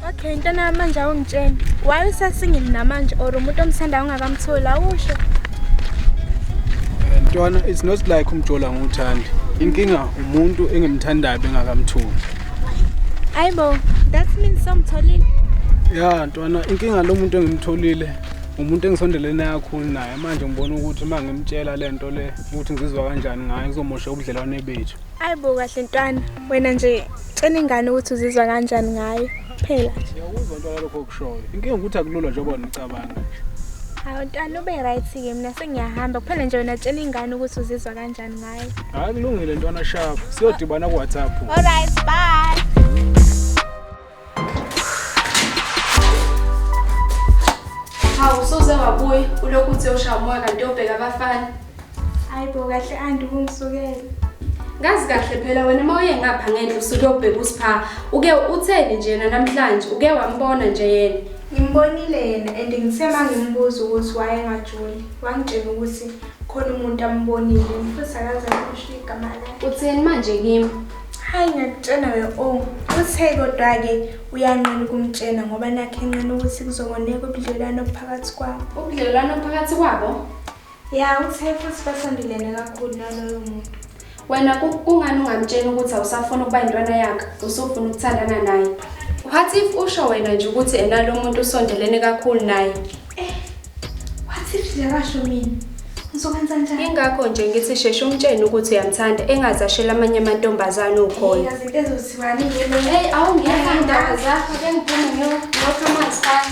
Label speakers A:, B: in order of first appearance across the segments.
A: Okay, into namanje awungitsheni. Why usasingile namanje or umuntu omsanda ungakamtholi awusho? Eh,
B: Ntwana, it's not like umjola nguthandi. Inkinga umuntu engimthandayo bengakamtholi.
A: Ayibo, that means somtholile. Ya,
B: Ntwana, inkinga lo muntu engimtholile umuntu engisondelene naye kakhulu naye manje ngibona ukuthi uma ngimtshela le nto le ukuthi ngizizwa kanjani ngayo kuzomosha ubudlelwane bethu Hayi bo kahle ntwana
A: wena nje cela ingane ukuthi uzizwa kanjani ngayo kuphela nje. Ngiyakuzwa ntwana lokho
B: okushoyo. Inkinga ukuthi akulula njengoba nicabanga nje. Hawu
A: ntwana ube right ke mina sengiyahamba kuphela nje wena tshela ingane ukuthi uzizwa kanjani ngayo. Hayi kulungile ntwana
B: sharp. Siyodibana ku WhatsApp. All right bye.
C: Hawu soze wabuya ulokhu uthe ushaya umoya kanti yobheka abafana. Hayi bo
A: kahle anti kungisukela. Ngazi
C: kahle phela wena uma uye ngapha ngenhla usuke ubheka usipha. Uke utheni nje yena namhlanje? Uke wambona nje yena. Ngimbonile yena
A: and ngithe uma ngimbuza ukuthi wayengajoli wangitshela ukuthi khona umuntu ambonile futhi akaze akusho igama lakhe. Utheni manje kimi?
C: Hayi ngiyakutshena
A: we o oh, uthe kodwa-ke uyanqena ukumtshena ngoba nakhe enqena ukuthi kuzongoneka ubudlelwano obuphakathi kwabo ubudlelwano obuphakathi
C: kwabo ya uthe
A: futhi basondelene kakhulu naloyo muntu wena
C: kungani ungamtsheni ukuthi awusafuni ukuba yintwana yakhe usufuna ukuthandana naye what if usho wena nje ukuthi enalo muntu usondelene kakhulu naye Eh,
A: what if ziyabasho mina? Ngizokwenza njani? Ingakho nje ngithi sheshe
C: umtshene ukuthi uyamthanda engaze ashela amanye amantombazane ukhona. Yazi into ezothiwani
A: yini? Hey, awu ngiyathanda
C: zakho ke ngiphume ngiyokha amanzi phansi.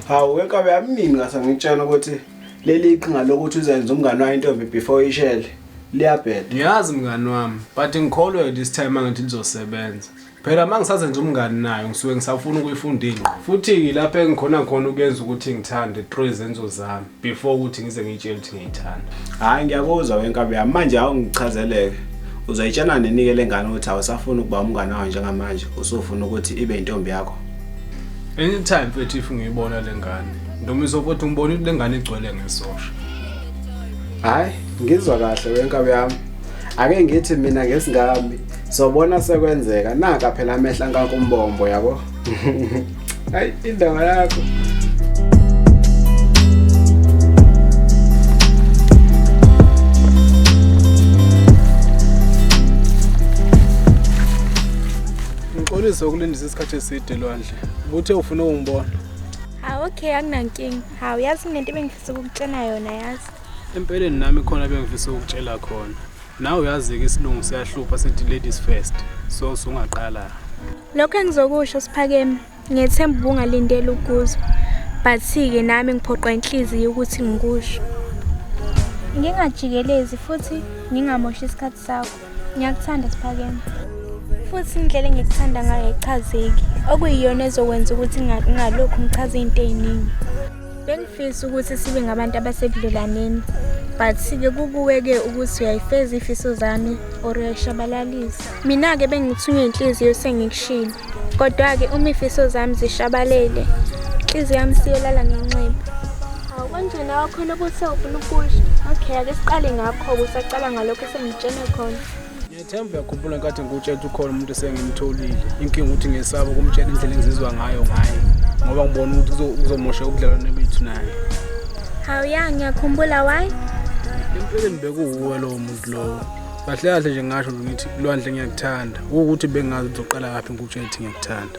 C: Hawu
D: wenkabe yamnini ngase ngitshela ukuthi leli iqhinga lokuthi uzenze umngane wayo intombi before ishele liyabheda. Ngiyazi mngani
B: wami but ngikholwe this time angithi lizosebenza. Phela uma ngisazenza umngani nayo ngisuke ngisafuna ukuyifunda ingqo futhi lapho engikhona khona ukuyenza ukuthi ngithande through izenzo zami before ukuthi ngize ngiyitshele ukuthi ngiyithanda hhayi ngiyakuzwa
D: wenkabi yami manje awungichazeleke uzoyitshana nenike le ngane ukuthi awusafuni ukuba umngane wayo njengamanje usufuna ukuthi ibe intombi yakho anytime
B: mfethu if ngiyibona le ngane noma izokuthi ngibona ukuthi le ngane igcwele ngesosha
D: hhayi ngizwa kahle wenkabi yami ake ngithi mina ngesingami sobona sekwenzeka naka phela amehla nkakumbombo yabo hayi indaba yakho
B: ngixolise ukulindisa isikhathi eside lwandle kuthe ufuna ukungibona hawu okay
A: akunankinga hawu yazi kunento ebengifisa ukukutshena yona yazi empeleni nami
B: khona bengifisa ukutshela khona Nawe uyazi-ke isilungu siyahlupha sithi ladies first so sungaqala. Lokho
A: engizokusho siphakeme ngethemba ubungalindela ukuzwa but-ke nami ngiphoqwa inhliziyo ukuthi ngikusho. Ngingajikelezi futhi ngingamoshi isikhathi sakho. Ngiyakuthanda siphakeme. Futhi indlela engikuthanda ngayo ichazeki okuyiyona ezokwenza ukuthi ngingalokhu ngichaza izinto eziningi. Bengifisa ukuthi sibe ngabantu abasebudlelwaneni but ke kukuwe-ke ukuthi uyayifeza ifiso zami or uyayishabalalisa mina-ke bengithunywe inhliziyo sengikushilo kodwa-ke uma ifiso zami zishabalele inhliziyo yami siyolala ngenxeba awu kanjena wakhona ukuthi awufuna ukusho okay ake siqale ngakho-ke usacala ngalokho esengitshene khona Themba uyakhumbula
B: nkathi ngikutshela ukuthi ukhona umuntu esengimtholile inkinga ukuthi ngesaba ukumtshela indlela engizizwa ngayo ngaye ngoba ngibona ukuthi uzomosha ubudlelwane bethu naye hawu
A: ya ngiyakhumbula why empeleni
B: bekuwuwe lowo muntu lowo kahle kahle nje ngasho ngithi lwandle ngiyakuthanda ukuthi bengazi ukuthi uqala kaphi ngikutshethi ngiyakuthanda